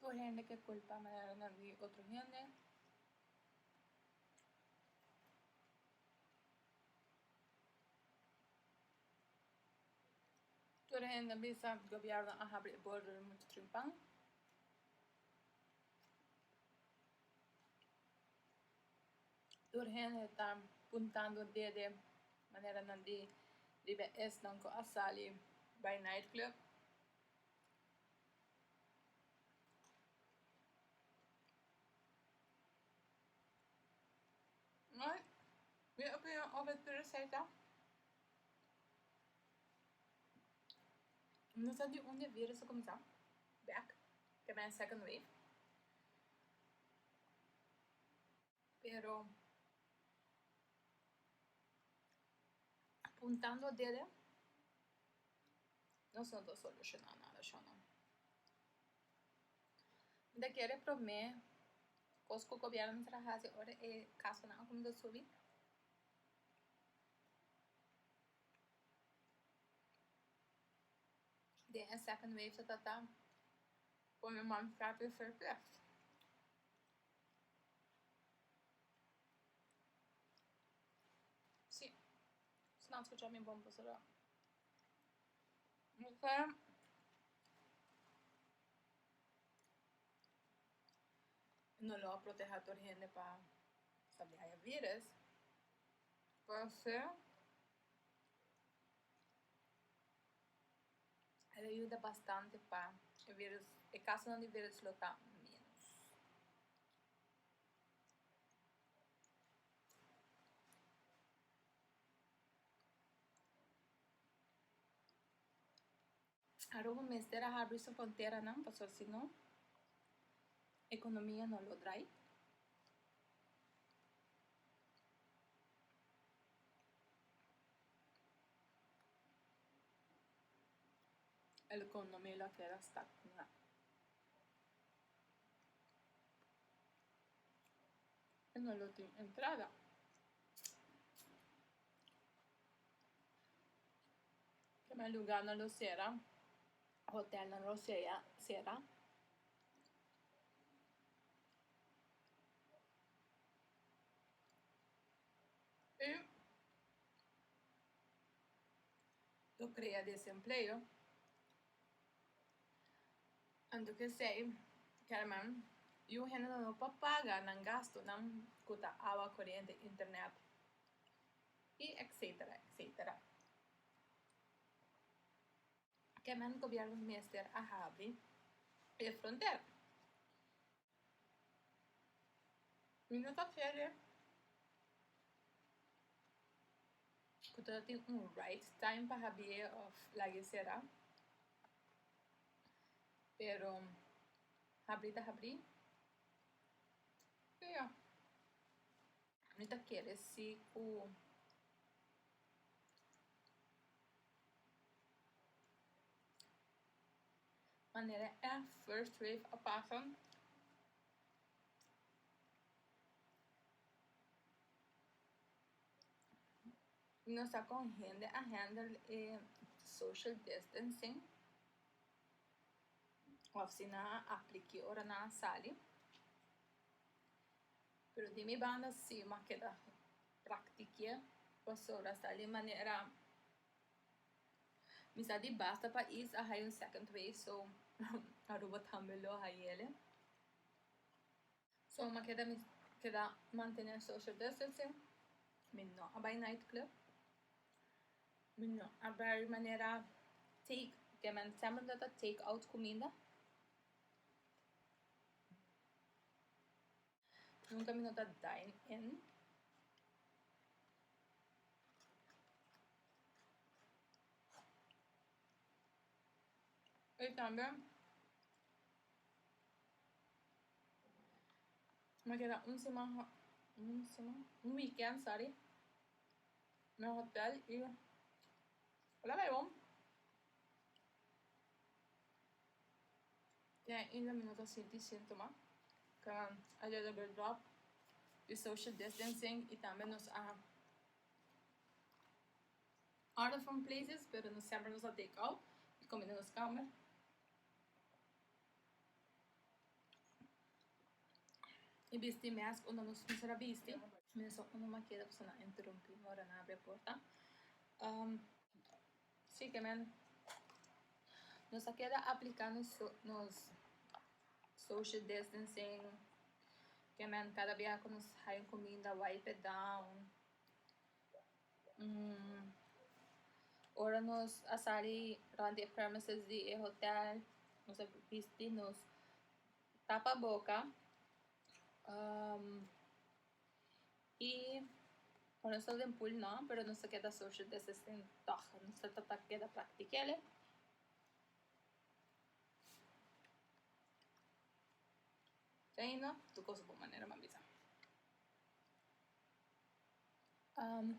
Tur hende ke kulpa manera na vi otro hende. Tur hende bisa gobierno a habri e border mucho trimpan. Tur hende ta puntando dede maneranan di biba esnan ku a sali bai nightclub. Ma mi opinion over tur esei ta no sa di unda e virus a kuminsá bèk, ke men second wave. Pero apuntando dele nos no ta solushona nada shona. Mi ta kere prome kos ku gobièrnu ta traha hasi ora e kasonan a kuminsa subi den e second wave ta trata pone man frapi surplus. Si, si nan scucha mi bon por cerra. Ok. No lo a proteha tur hende pa pa di haya virus. Por se. el a yuda bastante pa e virus, e kasonan di virus lo ta ménos. Aruba mester a habri su fronteranan pasobra si no ekonomia no lo drai, El economia lo a keda stagna. E no lo tin entrada. Prome lugarnan lo sera, hotelnan lo sea, sera. Ep lo crea desempleo anto ke esey kelman yu un hende no por paga nan gastonan ku ta awa corente internet y etcetera etcetera kemen gobierno mester a habri e fronter. Mi no ta kere ku ta tin un right time pa habi'é òf lag'é será, pero habri ta habri. I ya, mi ta kere si ku manera e first wave a pasa, nos ta con hende a handle e social distancing of si nan a apli ki ora nan a sali, pero di mi banda si mi a keda praktikié pasobra asta alí manera Mi sa di basta pais a haya un second wave so Aruba tambe lo hayele. So ma keda mi keda mantene social distancing. Mi no a bay night club. Mi no a bai manera take ke men semper ta ta take out cuminda. Nunca mi no ta dine in. Y tambe mi a keda un siman ha un siman un weekend sorry na hotel y hola bay bo. Ja ainda mi no ta sinti síntoma. Kan a dor tabata dròp di social distancing i tambe nos a out of some places pero no semper nos a take out i komo den nos kamer. I bisti mèsk unda nos no ser a bisti. Mi no sa unda mi a keda ku sa na interumpi mi ora nan abri e porta. Siguemen, nos a keda aplica nos nos social distancing, siguemen cada bia cu nos haña cuminda wipe it down, mm ora nos a sali rond di e premises di e hotel nos a bisti nos tapa boca, um y ora nos ta den pool no pero nos ta keda social distancing tog nos ta ta keda praktikele ta yendo tur cos bo manera mi a bisa am.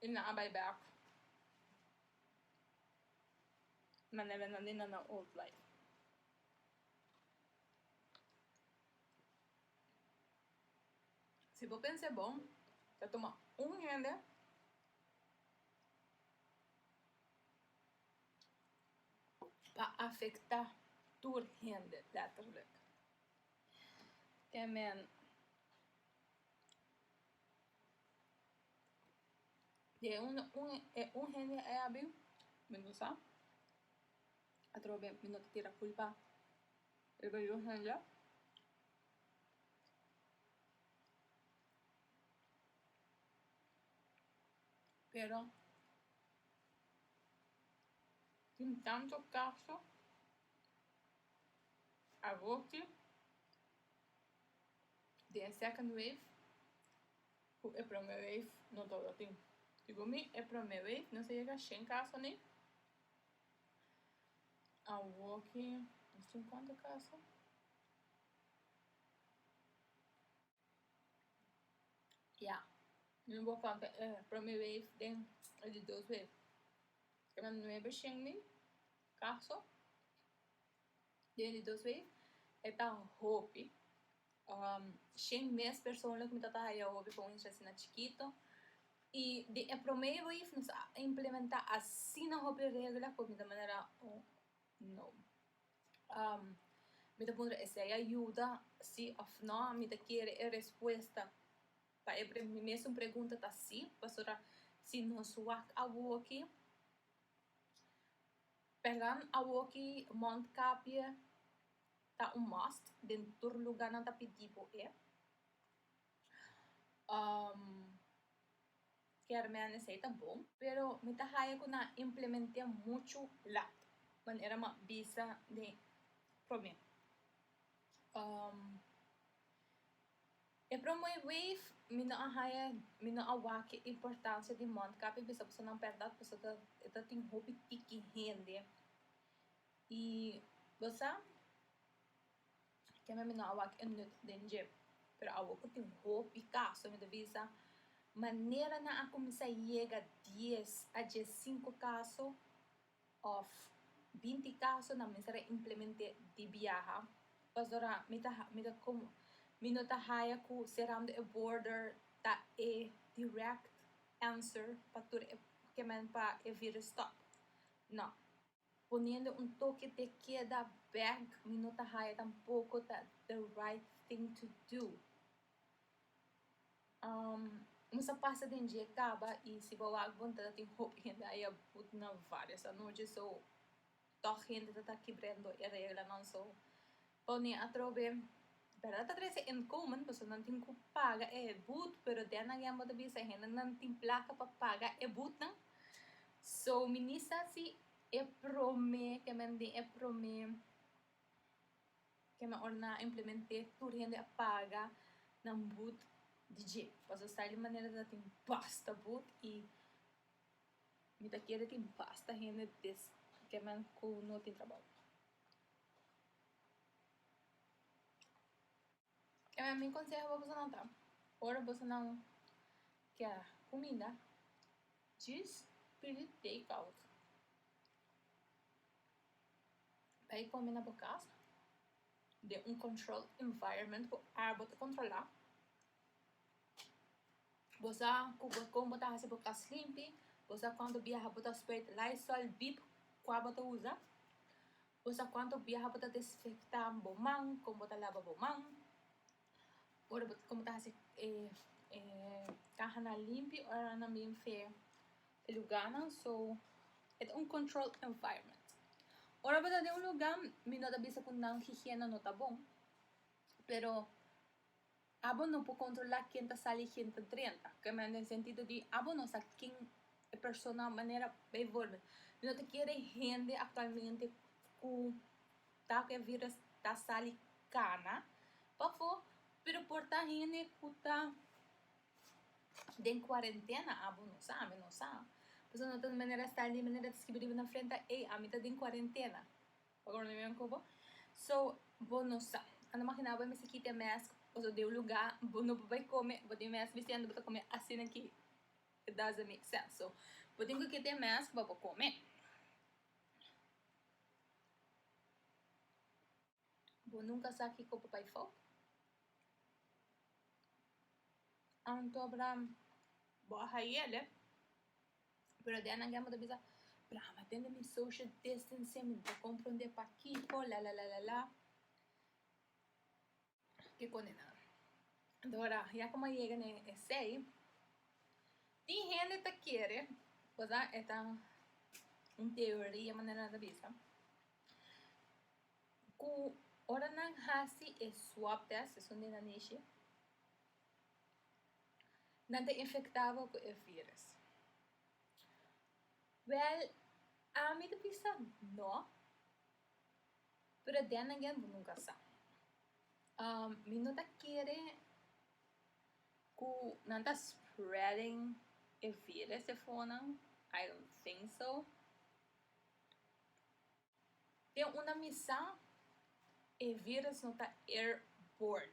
y nan a bay bek na nevenan di nan na old life. Si bo pensa e bon ta tuma un hende pa afecta tur hende letterlijk, ke men. Di e un, un, e un hende ei a biu, mi no sa, atrobe ben mi no ta tira culpa riba di un hende, pero tin tanto caso awochi di e second wave cu e prome wave no ta ora tin segun mi e prome wave no sa yega shen caso ni awor ki nos tin cuanto caso ya mi no bo conta e prome wave den e di dos wave keda nuebe shen ni caso. Den di dos week e ta hopi shen mes persoonlijk mi tabata haya hopi pa un inchi asina chikito y den e prome weef nos a implementa asina hopi regla cu mi ta manera un no mi ta puntra esey a yuda si of no mi ta kere e respuesta pa e pre mi mesun pregunta ta si pasobra si nos wak a woki Pèran awoki Mondkapje ta un must den tur lugá nan ta pidi bo e. Kèrmèn esei ta bon, pero mi ta haña ku nan implement'é muchu lat manera m'a bisa den promé. E promoi wave mi no a haya mi no a wak e importancia di mondkap y bisa pasobra nan berdad pasobra ta e ta tin hopi tiki hende y bo sa kema mi no a wak e nüt den dje pero awo ku tin hopi caso mi ta bisa manera nan a cuminsa yega dies a dje cinco caso Òf, binti kaso nan mester a implement'é di biaha, pasobra mi ta ha mi ta kom mi no ta haya ku serando e border ta e dirèkt answer pa tur e kemen pa e virus stòp. Nò, poniendo un toke te keda bèk mi no ta haya tampoko ta the right thing to do. Nos ta pasa den dje kaba i si bo wak bon ta tin hopi hende a bai put na varios anochi so tog hende ta ta kibrendo e reglanan so pone atrobe bèrdad ta trese inkomen pasobra nan tin ku paga e but pero den agen bo ta bisa hende nan tin plaka pa paga e butnan so mi ni sa si e prome kimen di e prome. Kema ora nan a implement'é tur hende a paga nan but di dje pasobra esaki ta e manera ta tin basta but i mi ta kere tin basta hende des kiman ku no tin trabou. Kende mi conseho pa bosonan ta ora bosonan kier cuminda djis pidi take out bai come na bo cas den un control environment cu arbo ta controla bo sa cu con bo ta hasi bo cas limpi bo sa cuanto biaha bo ta spray lysol deep cu abo ta usa. Bo sa cuanto biaha bo ta desinfecta bo man, con bo ta laba bo man, ora bo, con bo ta haci cahanan limpio, oranan nan bien fe e lugarnan, so e ta un controlled environment. Ora bo ta den un lugar mi no ta bisa cu nan higiene no ta bon, pero. Abo no por controla ken ta sali y ken ta drenta, ke men den sentido di abo no sa ken e persona manera bijvoorbeeld mi no ta kere hende actualmente ku ta ku e virus ta sali kana pafo pero por ta hende ku ta den cuarentena abo no sa mi no sa pasobra no tin manera sta di manera ta skibi riba na frente ey ami ta den cuarentena. Paga un reunion cu bo. So, bo no sa. A no magina bo mester kita e mask pasobra den un luga bo no por bay come, bo tin mask biciendo bo ta come asina aki. It doesn't make sense. So, bo tin cu kita e mask pa bo come. Bo nunca sa kico por bay fout. Anto, Abraham, bo a haye, alef. pero den nan gamba ta bisa pero amo a tende mi social distancing mi no ta comprende pakico lalalala kikoni nan entora ya como a yega den esey tin hende ta kere oza eta un teoria manera nan ta bisa cu ora nan haci e swab test esun den nan dishi nan ta infectá bo cu e virus? Wel, ami ta bisa no, pero den again bo nunca sa. mi no ta kere cu nan ta spreading e virus, I don't think so. Den una misa e virus no ta airborne.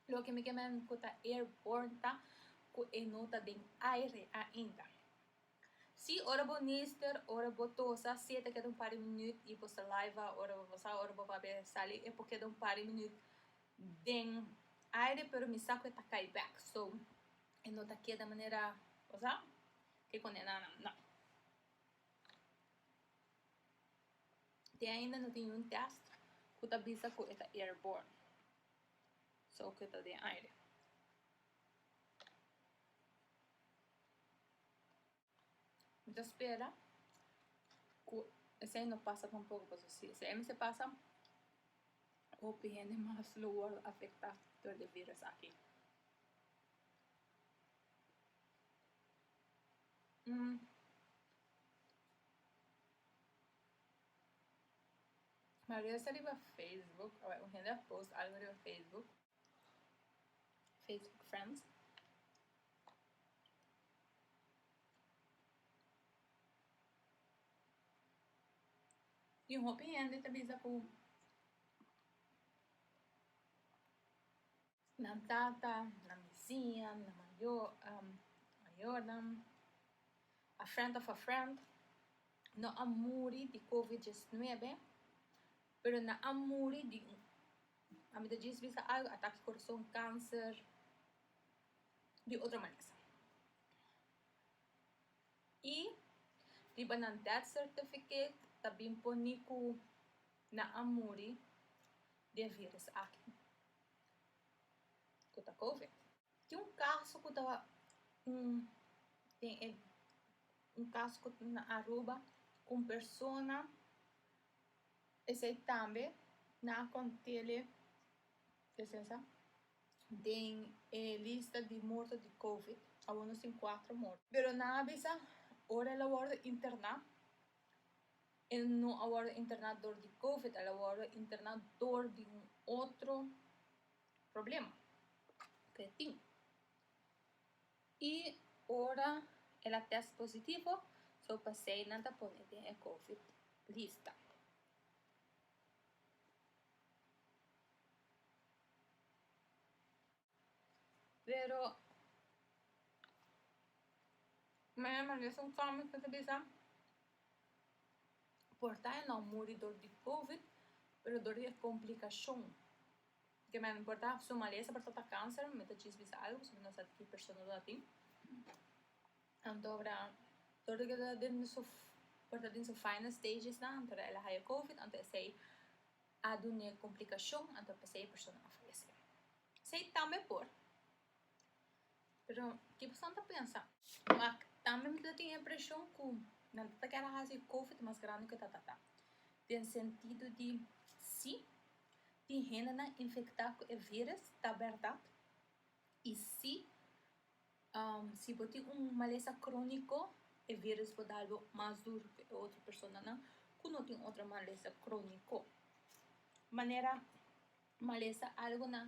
Loke mi ke men ku ta airborne ta ku e no ta den aire ainda. Si ora bo nister, ora bo tosa, si e ta keda un par di minüt i bo saliva ora bo bosa, ora bo papia sali, e por keda un par di minüt den aire pero mi sa ku e ta kai bek. So, e no ta keda manera, bosa, ke kondenana, no. Te ainda no tin un test cu ta bisa cu e ta airborne, so cu e ta den aire. Mi ta spera cu esei no pasa tampoco paso si esei mester pasa hopi hende mas lo worde afecta door de virus aki. Maria sta riba Facebook awe un hende a post algo riba Facebook Facebook friends y un hopi hende ta bisa ku. Nan tata, nan bisiña, nan mayo mayornan, a friend of a friend, no a muri di covid diesnuebe, pero nan a muri di un, a mi ta djis bisa algo, atake corazon, cancer, di otro manes. Y riba nan death certificate ta bin pone cu nan a muri di e virus aki ku ta covid. Tin un kaso ku ta den e un kaso ku ta na Aruba ku un persona esei tambe na a kontele esesa den e lista di morto di covid awor nos tin kuatro morto pero nan a bisa ora el a worde interna El no a wòrdu interná dor di covid, el a wòrdu interná dor di un otro problema ku e tin. I ora el a tèst positivo, so pasei nan ta pone den e covid lista. Pero maya maya mi a haci un comment mi ta bisa por ta e no muri dor di covid pero dor di e complicacion porque maya mi por ta su malesa por ta ta cancer mi ta djis bisa algo pasobra mi no sa di ki persona lo a tin anto dor di por ta den su final stages nan anto el a haya covid anto esey a dun'é komplikashon anto a p'esei e persona a falesé. Esei tambe por. Pero ki pasobra nan ta pensa? Kua tambe mi ta tin e impreshon ku nan ta kera hasi Covid mas grandi ku e tatata. Den sentido di si tin hendenan infektá ku e vírus ta bèrdat i si Si bo tin un malesa króniko e viris por dalbo mas dur ke otro personanan ku no tin otro malesa króniko. Manera malesa algonan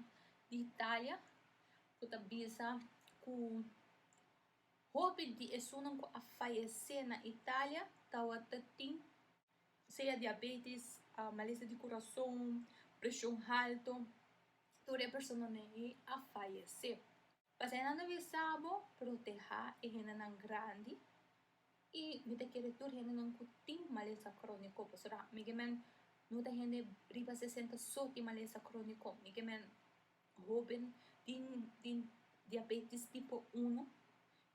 di Italia ku ta bisa ku hopi di esunnan ku a fayesé na Italia tabata tin sea diabetis, malesa di kurason, preshon halto, tur e personanan ei a fayesé. Pa esnan ta bisa bo, Protehá e hendenan grandi, i mi ta kere tur hendenan ku tin malesa króniko, pasobra mike men no ta hende riba sesenta so tin malesa króniko, mike men hóben tin tin diabétis tipo uno,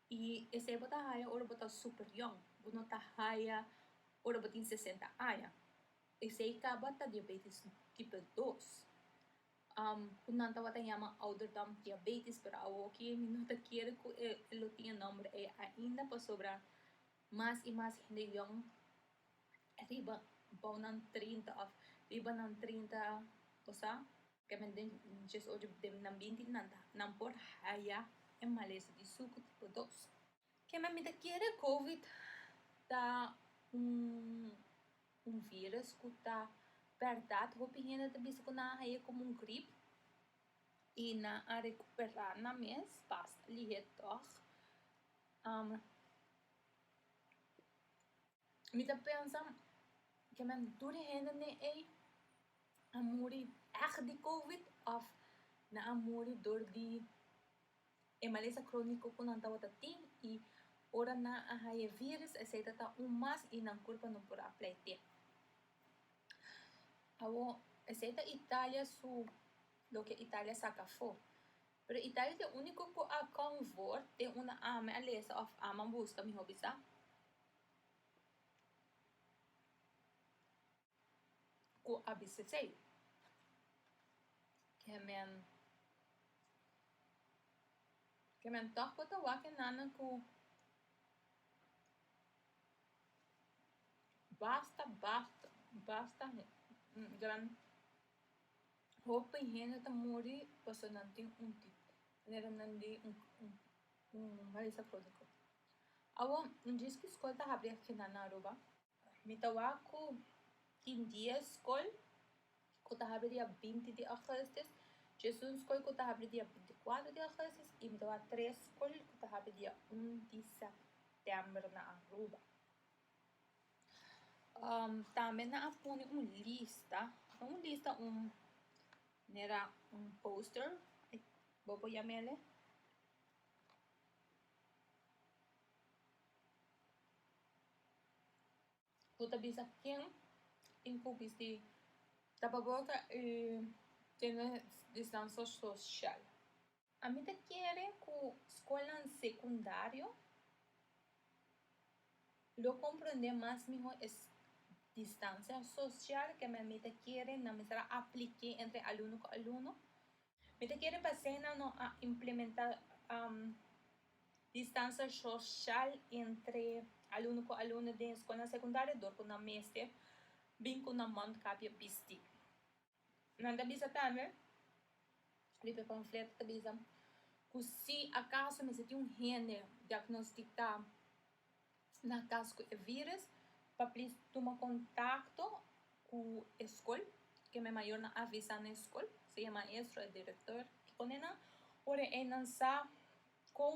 i esei bo ta haya ora bo ta super yòn, bo no ta haya ora bo tin sesenta aña, esei kaba ta diabétis tipo dos. ku nan tabata yama ouderdom diabetes pero awoki mi no ta kere ku e lo tin e nòmber ei ainda pasobra mas i mas hende yòn riba bou nan trinta òf riba nan trinta bo sa kiawen den diesocho den binti nan ta nan por haya e malesa di suku tipo dos. Kende mi ta kere covid ta un virus ku ta bèrdat hopi hende ta bisa ku nan a haña komo un grip i nan a rekuperá nan mes basta lihé tòg mi ta pensa ke men tur di hende ne'ey a muri èg di covid òf nan a muri dor di. e malesa króniko ku nan tabata tin i ora nan a haña e víris esei ta ta un mas i nan kurpa no por a pleitiá. Awor, esei ta Italia su loke Italia saka afó. Pero Italia ta e úniko ku a konfort den un ame a lesa òf aman buska, mihó bisa. ku a bisa esei. Ke men ke men tòg por ta wak e nana ku basta basta basta gran hopi hende ta muri paso nan tin un tití manera nan di un un un mesa kòrda kòrda. Awor un dies ku skol ta habri aki nan Aruba Mi ta wak cu tin dia scol cu ta habri dia binti di augustus, djesun scol cu ta habri dia binti cuatro di augustus y mi ta wak tres scol cu ta habri dia un di september na Aruba. Tambe nan a pone un lista, no un lista un manera un poster bo por yamele. Cu ta bisa ken tin cu bisti tapa boca y tene distansa social. A mi ta kere cu scolnan secundario lo comprende mas miho es distansa social, keme a mi ta kere nan bisa a aplique entre alumno cu alumno. Mi ta kere pa asina no a implementa um, distansa shosal entre alumno ku alumno den eskolnan sekundario dor ku nan mester bin ku nan mondkapje bisti. Nan ta bisa tambe, di p'e panfleto ta bisa ku si akaso mester tin un hende diagnostiká na cas cu e virus pa plis tuma contacto cu e scol que me mayor na avisa na e scol sea e maestro e director kikune nan ora eynan sa con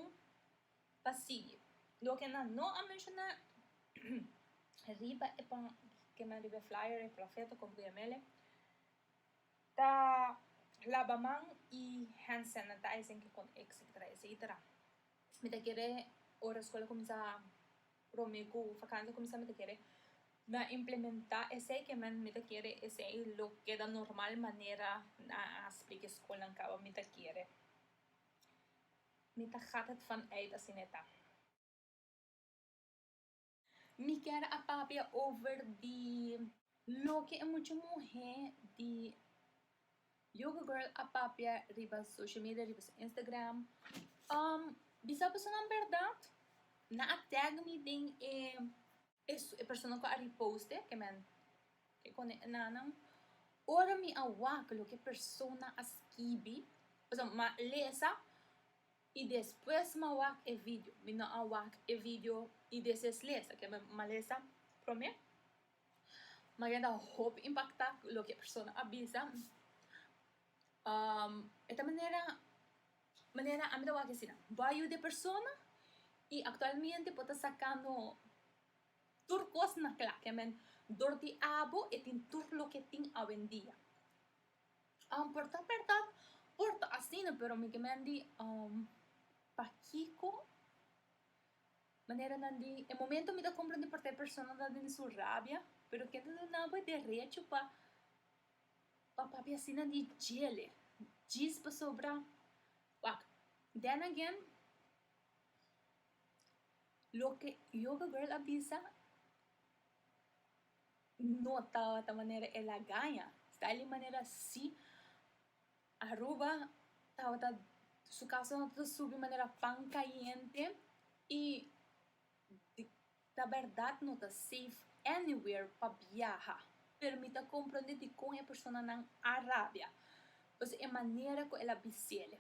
pa sigui loke nan no a menciona riba e pan keme riba e flyer e panfleto con bmele ta laba man y hand sanitizing kikune etcetera etcetera. mi ta kere ora skol a kuminsá promé ku fakansa a kuminsá mi ta kere na implementá esei ke mi ta kere esei lo keda normal manera na haspri ke skolnan kaba mi ta kere mi ta gata het van uit asina e ta. Mi kier a papia over di loke e mucha muhé di Yoga Girl a papia riba social media, riba su Instagram. Um, bisa personanan bèrdat, nan a tag mi den e e persona ku a reposte, ke men ke kone e nannan. Ora mi a wak loke e persona a skibi, pasobra mi a lesa I despues m'a wak e video. Mi no a wak e video i des es lesa, ke m'a lesa promé. Maria ta hopi impaktá ku loke e persona a bisa. E ta manera, manera ami ta wak asina, bo a yuda e persona i aktualmente bo ta sakando tur kos na kla. Ke men, dor di abo e tin tur loke tin awendia. Um por ta berdad por ta asina pero mi ke men di um pakiko manera nan di e momento mi ta comprende porque e persona ta den su rabia pero kende ta nan bo e derecho pa pa papia di asina di djele djis pasobra wak then again loke yoga girl a bisa No tabata manera el a gaña. Sta el i manera si Aruba tabata su caso no tabata subi manera pan cayente y di ta berdad no ta safe anywhere pa biaha pero mi ta comprende dicon e personanan a rabia pasobra e manera cu el a bisele.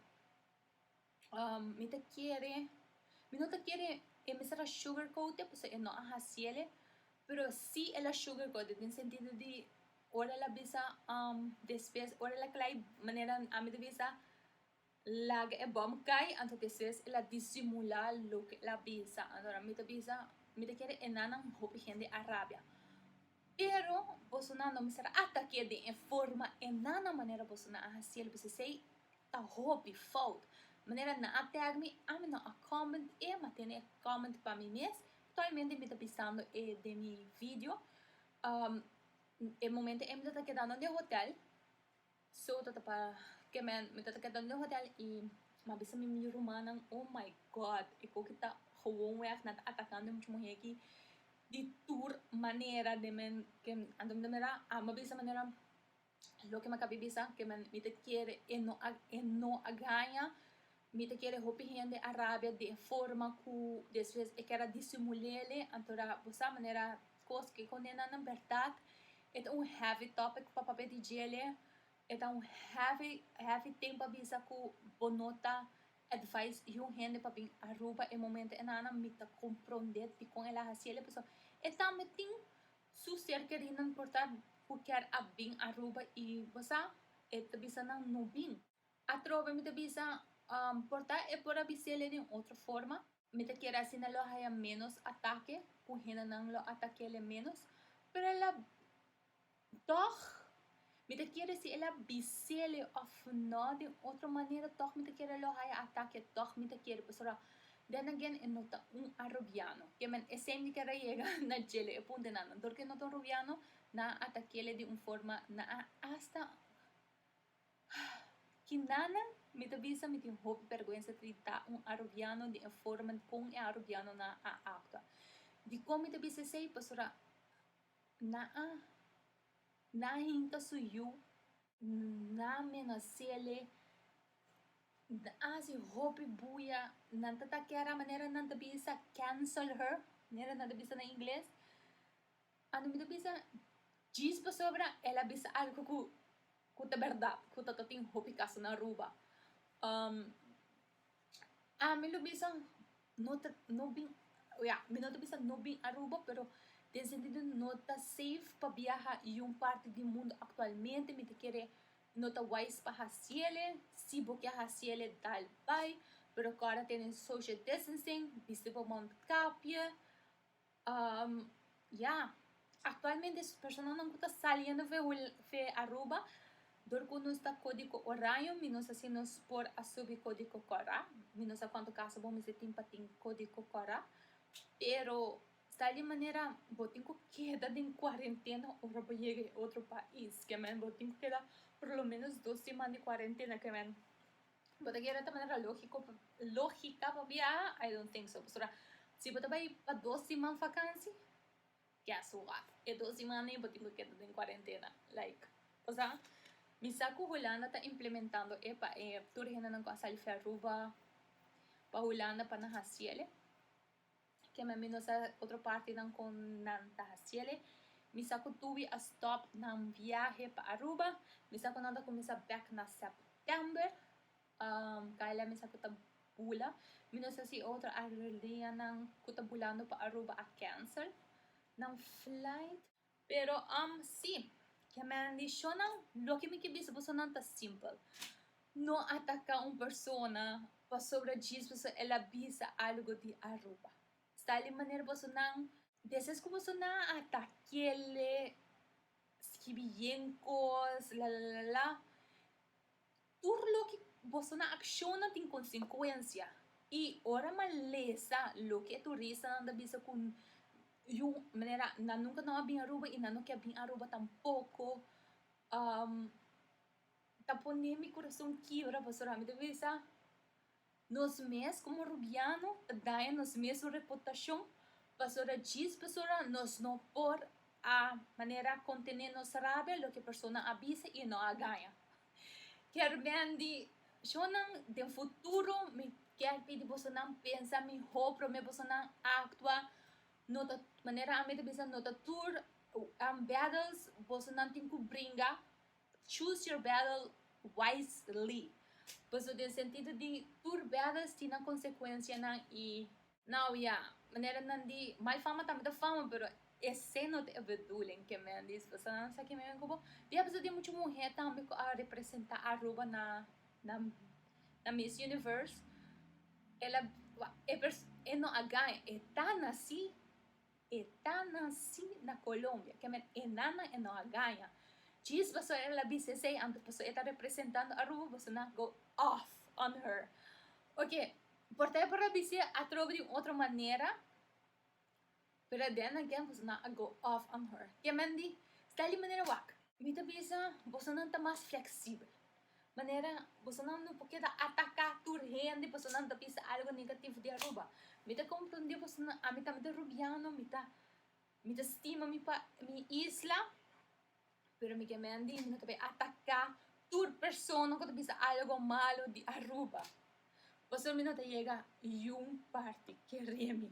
Mi ta kere, mi no ta kere e mester a sugarcoatie pasobra e no a haciele, pero si el a sugarcoatie den sentido di ora el a bisa despues ora el a clai manera ami ta bisa laga e bom cay anto despues el a disimula loke el a bisa, anto mi ta bisa mi ta kere e nannan hopi hende a rabia. Pero, bosonan lo mester a ataka e den e forma e nan na manera bosonan a hasi el, bisai esei ta hopi fout. Manera nan a tag mi, ami no a comment e, m'a tene e comment pa mi mes, aktualmente mi ta bisando e den mi video, e momento ei mi lo ta keda nan den hotel. So tata pa ke men mi tata keda den hotel y ma bisa mi mi rumannan oh my God e koki ta gewoon weg nan ta atacando e mucha muhe aki di tur manera den men ke anto mi ta mira a mi bisa manera loke mi a kabe bisa ke men mi ta kere e no a e no a gaña Mi ta kere hopi hende a rabia di e forma ku despues e kera disimul'ele, anto ra bo sa manera kos ke kondena nan bèrdat. E ta un heavy topic pa papia di djele, e ta un heavy heavy ting pa bisa ku bo no ta advise di un hende pa bin Aruba e momento e nana mi ta komprondé dikon el a hasiel, pasobra e tambe tin su ser kerinan por ta ku kèr a bin Aruba i bo sa e ta bisa nan no bin. Atrobe mi ta bisa, Por ta e por a bis'ele den otro forma? Mi ta kere asina lo haya ménos atake, ku hendenan lo atak'ele ménos. Pero el a, tòg, mi ta kere si el a bis'ele òf nò den otro manera, tòg mi ta kere lo haya atake, tòg mi ta kere. Pasobra, then again, e no ta un arubiano. Ke men esei mi kere yega na djele e puntenan. Anto ke no ta un rubiano, nan a atak'ele di un forma, nan a asta. Ki nana, mi ta bisa mi tin hopi perguensa trita un Arubiano di e forma di kon e Arubianonan a aktua. Dikon mi ta bisa esei? Pasobra nan a nan a hinka su yu, nan a menas'ele, nan a hasi hopi buya, nan ta take'era manera nan ta bisa cancel her, manera nan ta bisa na ingles. Anto mi ta bisa djis pasobra el a bisa algu ku ku ta bèrdat ku tato tin hopi kasa na Aruba. Ami lo bisa no ta no bin ya mi no ta bisa no bin Aruba pero den sentido no ta safe pa biaha i un parti di mundu aktualmente mi ta kere no ta wise pa hasiel e si bo ke hasiel e dal bai pero kòrda tene social distancing bisti bo mondkapje Um, ya, aktualmente personanan ku ta saliendo fe hul fe Aruba dor ku nos ta kódigo oraño mi nos a si nos por a subi kódigo kòrá. Mi no sa kuantu kasa bo mester tin pa tin kódigo kòrá, pero sa di manera bo tin ku keda den kuarentena ora bo yega e otro pais, ke men bo tin ku keda por lo menos dos siman di kuarentena ke men Bo ta kier ta manera lógiko lógika pa biaha? I don't think so. Pasobra si bo ta bai pa dos siman vakansi, guess what? E dos siman ei bo tin ku keda den kuarentena. Like, o sa, mi sa ku Hulanda ta implementando e pa e tur hendenan ku a sali fi Aruba, pa Hulanda, pa nan hasiel e. kema mi no sa otro partinan kon nan ta hasiele. Mi sa ku tuwi a stop nan viahe pa Aruba. Mi sa ku nan ta kuminsá bèk na sèptèmber. Um, kai la mi sa ku ta bula. Mi no sa si e otro aerolineanan ku ta bulando pa Aruba a kensel nan flait. Pero am si, ke maldishonnan, loke mi ke bisa boso nan ta simpel. No ataka un persona pasobra djis boso el a bisa algo di Aruba. Sta li manera boso nan deses ku boso nan a atak'ele, skibi yen kos, lalalala. Tur loke boso na acciona tin consecuencia y ora malesa loke e turistanan ta bisa cu yu manera nan nunca no a bin Aruba y nan no kier bin Aruba tampoco ta pone mi corazon kiebra pasobra mi ta bisa Nos mes komo Rubiano ta daña nos mes su reputashon pasobra djis persona nos no por a manera kontené nos rabia loke persona a bisa i e no a gaña. Kermendi, shonnan den futuro mi ke pidi bosonan pensa mihó promé bosonan aktua no ta manera ami ta bisa no ta tur am battles bosonan tin ku bringa. Choose your battle wisely. Paso den sentido di tur bedas tin nan consecuencianan y now ya, manera nan di mal fama tambe ta fama pero esey no ta e bedoeling ke men di esposa nan sa ke men ku bo. Di a paso tin muchu muher tambe ku a representa Aruba na na na Miss Universe. Ela, e pers, e no a gan, e ta naci. E ta naci na Colombia. Ke men e nannan e no a gaña. Djis boso el a bisti esei anto paso e ta representando Aruba boso na go off on her. Ok por ta e por a bisti atrobe di un otro manera pero den nan ken boso nan a go off on her. Ke men di Steli manera wak. Mi ta bisa boso nan ta mas flexible. Manera bosonan no por keda ataka tur hende paso nan ta bisa algo negativo di Aruba. Mi ta comprende bosonan. Ami tambe ta Rubiano, mi ta mi ta stima mi pa mi isla, pero mi ke men di mi no ta bay ataka tur persona cu ta bisa algo malo di Aruba. Pasobra mi no ta yega yu parti kere mi.